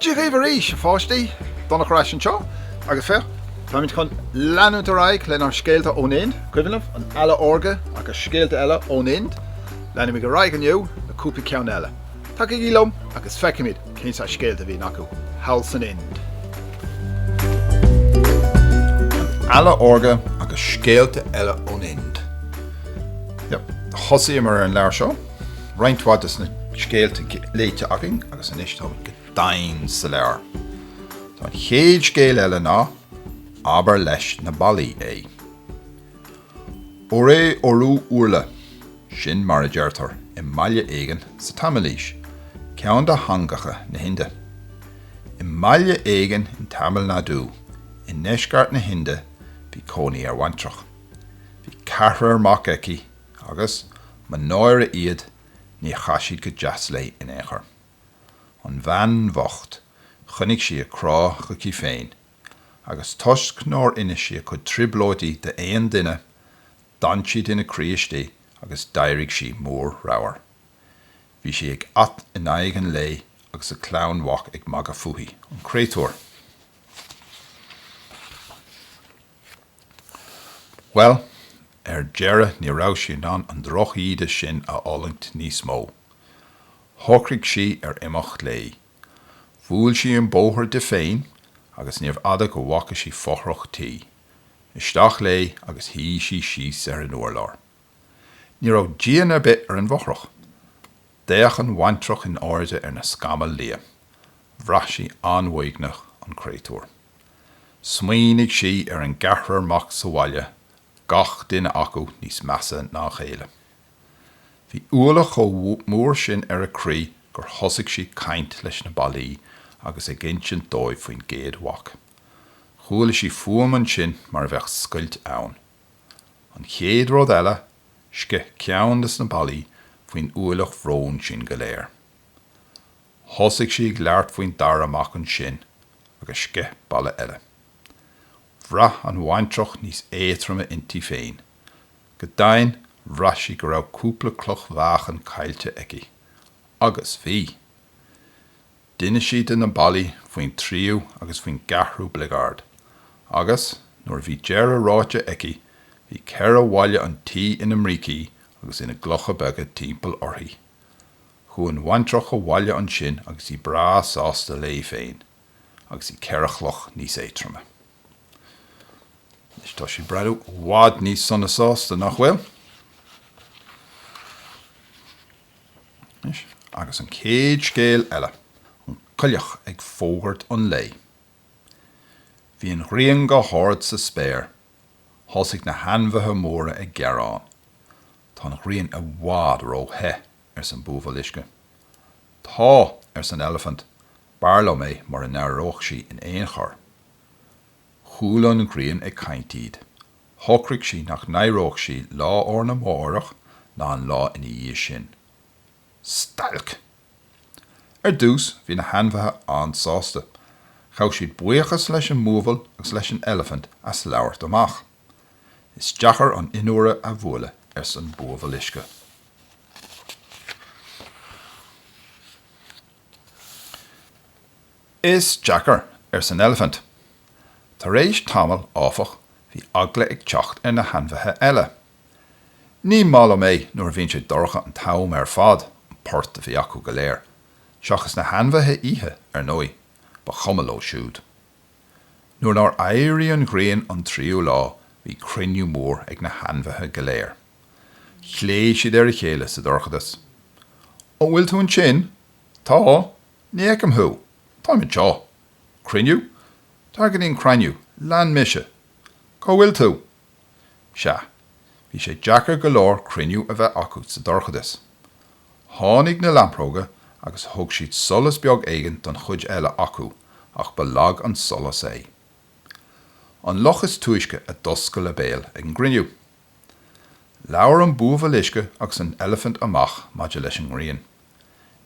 Dia dhaoibh arís a pháistí! Donnach ar ais anseo agus féach, táimid chun leanúint ar aghaidh lenár Scéalta ón Ind, Cuimhneamh, an Eala Órga agus Scéalta Eile ón Ind. Leanfaimid ar aghaidh inniu le cúpla ceann eile. Tagaigí liom agus feicfimid! Cén saghas scéalta a bhí acu thall san Ind? An Eala Órga agus scéalta eile ón Ind. Yep. Thosaíomar ar an leabhar seo, roinnt mhaith de na scéalta léite againn agus anois táimid go domhain sa leabhar. Tá an chéad scéal eile ná Abair leis na Ballaí é. Oré orú urla, sin mar a deirtear i mbaile éigin sa Taimilís, ceann de theangacha na hInde. I mbaile éigin in Tamil Nadu, i ndeisceart na hInde, bhí cónaí ar bhaintreach. Bhí ceathrar mac aici agus, mo náire iad, níor chaith siad go deas léi in aon chor. An bhean bhocht, choinnigh sí a crá chuici féin agus toisc nár inis sí a cuid trioblóidí d'aon duine, d'fhan siad ina croí istigh agus d'éirigh sí mór ramhar. Bhí sí ag at in aghaidh an lae agus a clann mhac ag magadh fúithi, an créatúr. Bhuel, ar deireadh ní raibh sí in ann an drochíde sin a fhulaingt níos mó. Shocraigh sí ar imeacht léi. Bhuail sí an bóthar di féin agus níorbh fhada go bhfaca sí fothrach tí. Isteach léi agus shuigh sí síos ar an urlár. Ní raibh díon ar bith ar an bhfothrach. D'fhéach an bhaintreach in airde ar na scamaill liath. Bhraith sí an-uaigneach an créatúr. Smaoinigh sí ar an gceathrar mac sa bhaile, gach duine acu níos measa ná a chéile. Bhí ualach chomh mór sin ar a croí gur thosaigh sí ag caint leis na ballaí agus ag insint dóibh faoin gcéad mhac. Chuala sí fuaim ansin mar a bheadh scoilt ann. An chéad rud eile, sceith ceann de na ballaí faoin ualach bhrón sin go léir. Thosaigh sí ag labhairt faoin dara mac ansin agus sceith balla eile. Bhraith an bhaintreach níos éadtroime inti féin. Go deimhin, bhraith sí go raibh cúpla cloch mheáchain caillte aici. Agus bhí. D'inis sí do na ballaí faoin tríú agus faoin gceathrú bligeard. Agus, nuair a bhí deireadh ráite aici, bhí ceithre bhalla an tí ina mbrící agus ina gclocha beaga timpeall uirthi. Chuaigh an bhaintreach abhaile ansin agus í breá sásta léi féin. agus í ceithre chloch níos éatroime. Anois tá sí ag breathnú i bhfad níos sona sásta, nach bhfuil? Anois, agus an chéad scéal eile, an coileach ag fógairt an lae. Bhí an ghrian go hard sa spéir. Thosaigh na hainmhithe móra ag gearán, Tá an ghrian i bhfad ró-the. arsa an buabhall uisce. Tá, arsa an eilifint, b'fhearr liom é mura n-éireodh sí in aon chor. Chuala an ghrian ag caint iad. Shocraigh sí nach n-éireodh sí lá arna mháireach ná an lá ina dhiaidh sin. Stailc! Ar dtús, bhí na hainmhithe an-sásta. Ghabh siad buíochas leis an mbuabhall agus leis an eilifint as labhairt amach. Is deacair an fhionnuaire a bhualadh, arsa an buabhall uisce. Is deacair, arsa an eilifint. Tar éis tamaill, áfach, bhí eagla ag teacht ar na hainmhithe eile. Ní maith liom é nuair a bhíonn sé dorcha an t-am ar fad, an port a bhí acu go léir, seachas na hainmhithe oíche, ar ndóigh. Ba chuma leo siúd. Nuair nár éirigh an ghrian an tríú lá bhí cruinniú mór ag na hainmhithe go léir. Ghlaoigh siad ar a chéile sa dorchadas. An bhfuil tú ansin? Tá. Ní fheicim thú. Táim anseo. Cruinniú? Tar go dtí an cruinniú, lean mise. Cá bhfuil tú? Sea, bhí sé deacair go leor cruinniú a bheith acu sa dorchadas. Tháinig na lampróga agus thug siad solas beag éigin don chuid eile acu ach ba lag an solas é. An luch is túisce a d'oscail a béal ag an gcruinniú. Labhair an buabhall uisce agus an eilifint amach maidir leis an ngrian.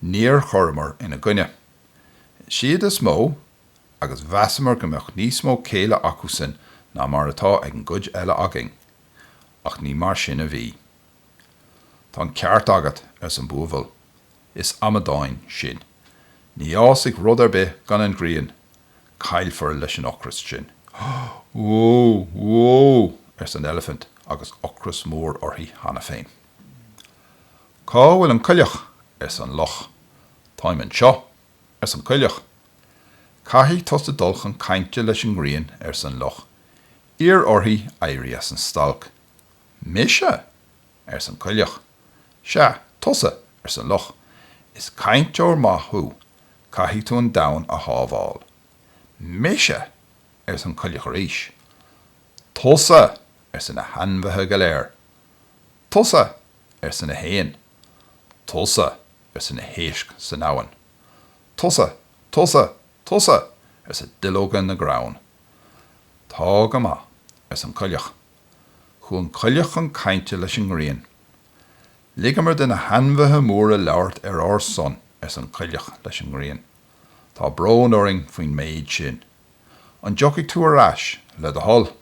Níor chuireamar ina gcoinne. Is iad is mó agus mheasamar go mbeadh níos mó céille acusan ná mar atá ag an gcuid eile againn. Ach ní mar sin a bhí. Tá an ceart agat, arsa an buabhall. Is amadáin sinn. Ní fhásfaidh rud ar bith gan an ghrian. Caillfear leis an ocras sinn. Wó! Wó! arsa an eilifint agus ocras mór uirthi cheana féin. Cá bhfuil an coileach? arsa an luch. Táim anseo, arsa an coileach. Caithfidh tusa dul chun cainte leis an ngrian, arsa an luch. Iarr uirthi éirí as an stailc. Mise? ars an coileach. Sea, tusa, ars an luch. Is cainteoir maith thú. Caithfidh tú an domhan a shábháil. Mise? ars an coileach arís. Tusa! arsa na hainmhithe go léir. Tusa! arsa na héin. Tusa! arsa na héisc san abhainn. Tusa! Tusa! Tusa! arsa duilleoga na gcrann. Tá go maith, ars an coileach. Chuaigh an coileach chun cainte leis an ngrian. Ligeamar de na hainmhithe móra labhairt ar ár son, arsa an coileach leis an ngrian. Tá brón orainn faoin méid sin. An dtiocfaidh tú ar ais, le do thoil?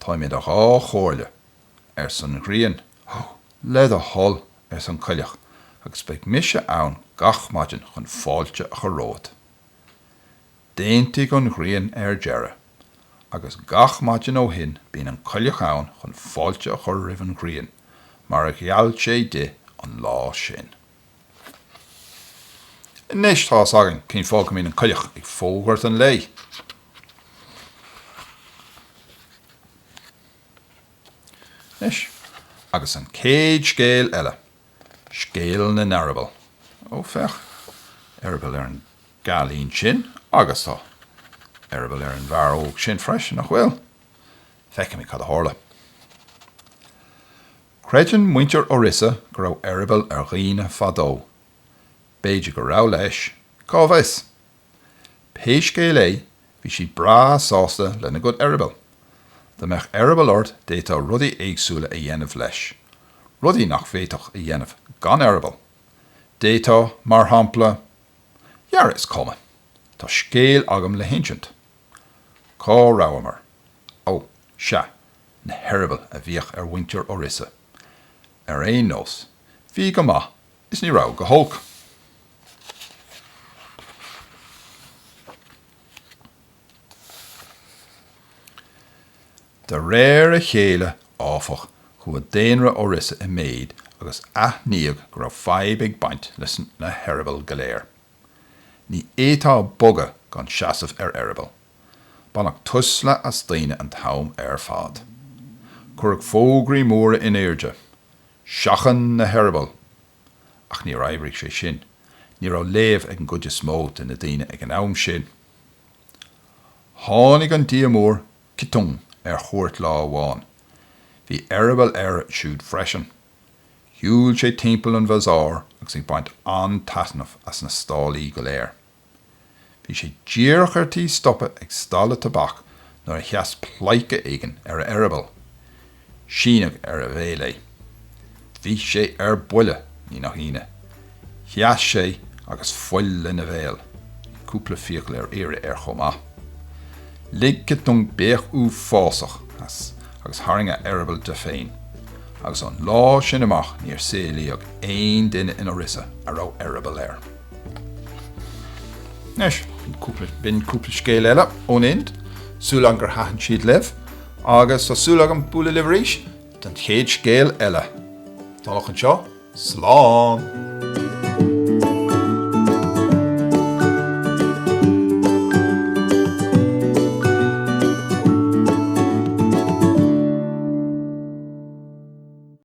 Táim idir dhá chomhairle, arsa an ghrian. Ó, le do thoil, arsa an coileach, agus beidh mise ann gach maidin chun fáilte a chur romhat. D'aontaigh an ghrian ar deireadh agus gach maidin ó shin bíonn an coileach ann chun fáilte a chur roimh an ghrian mar a gheall sé di an lá sin. Anois tá fhios againn cén fáth go mbíonn an coileach ag fógairt an lae. Anois agus an chéad scéal eile. Scéal na n-eireaball. Ó, féach, eireaball ar an gcailín sin agus tá eireaball ar an bhfear óg sin freisin, nach bhfuil? Feicfimid cad a tharla. Creideann muintir Orissa go raibh eireaball ar dhaoine fadó. B'fhéidir go raibh, leis. Cá bhfios? Pé scéal é, Bhí siad breá sásta lena gcuid eireaball. Dá mbeadh eireaball ort d'fhéadfá rudaí éagsúla a dhéanamh leis, rudaí nach bhféadfá a dhéanamh gan eireaball. D'fhéadfá, mar shampla, Dhera is cuma, tá scéal agam le hinsint. Cá rabhamar? Ó, sea, na heireabaill a bhíodh ar mhuintir Orissa. Ar aon nós, bhí go maith is ní raibh go holc. De réir a chéile, áfach, chuaigh daonra Orissa i méid agus aithníodh go raibh fadhb ag baint leis na heireabaill go léir. Ní fhéadfá bogadh gan seasamh ar eireaball. Baineadh tuisle as daoine an t-am ar fad. Cuireadh fógraí móra in airde. Seachain na heireabaill! Ach níor oibrigh sé sin. Ní raibh léamh ag an gcuid is mó de na daoine ag an am sin. Tháinig an Dia Mór, Citong, ar chuairt lá amháin. Bhí eireaball air siúd freisin. Shiúil sé timpeall an Bhazaar agus ag baint an-taitneamh as na stallaí go léir. Bhí sé díreach ar tí stopadh ag stalla tobac nuair a sheas pleidhce éigin ar a eireaball. Síneadh ar a bhéal é. Bhí sé ar buile, ní nach ionadh. Sheas sé agus fuil lena bhéal. Bhí cúpla fiacail ar iarraidh air chomh maith. Lig Keteng béic uafásach as agus tharraing a eireaball de féin, agus ón lá sin amach níor saolaíodh aon duine in Orissa a raibh eireaball air. Anois, b'in cúpla scéal eile ón Ind, súil agam gur thaitin siad libh, agus tá súil agam bualadh libh arís don chéad scéal eile. Go dtí sin, slán!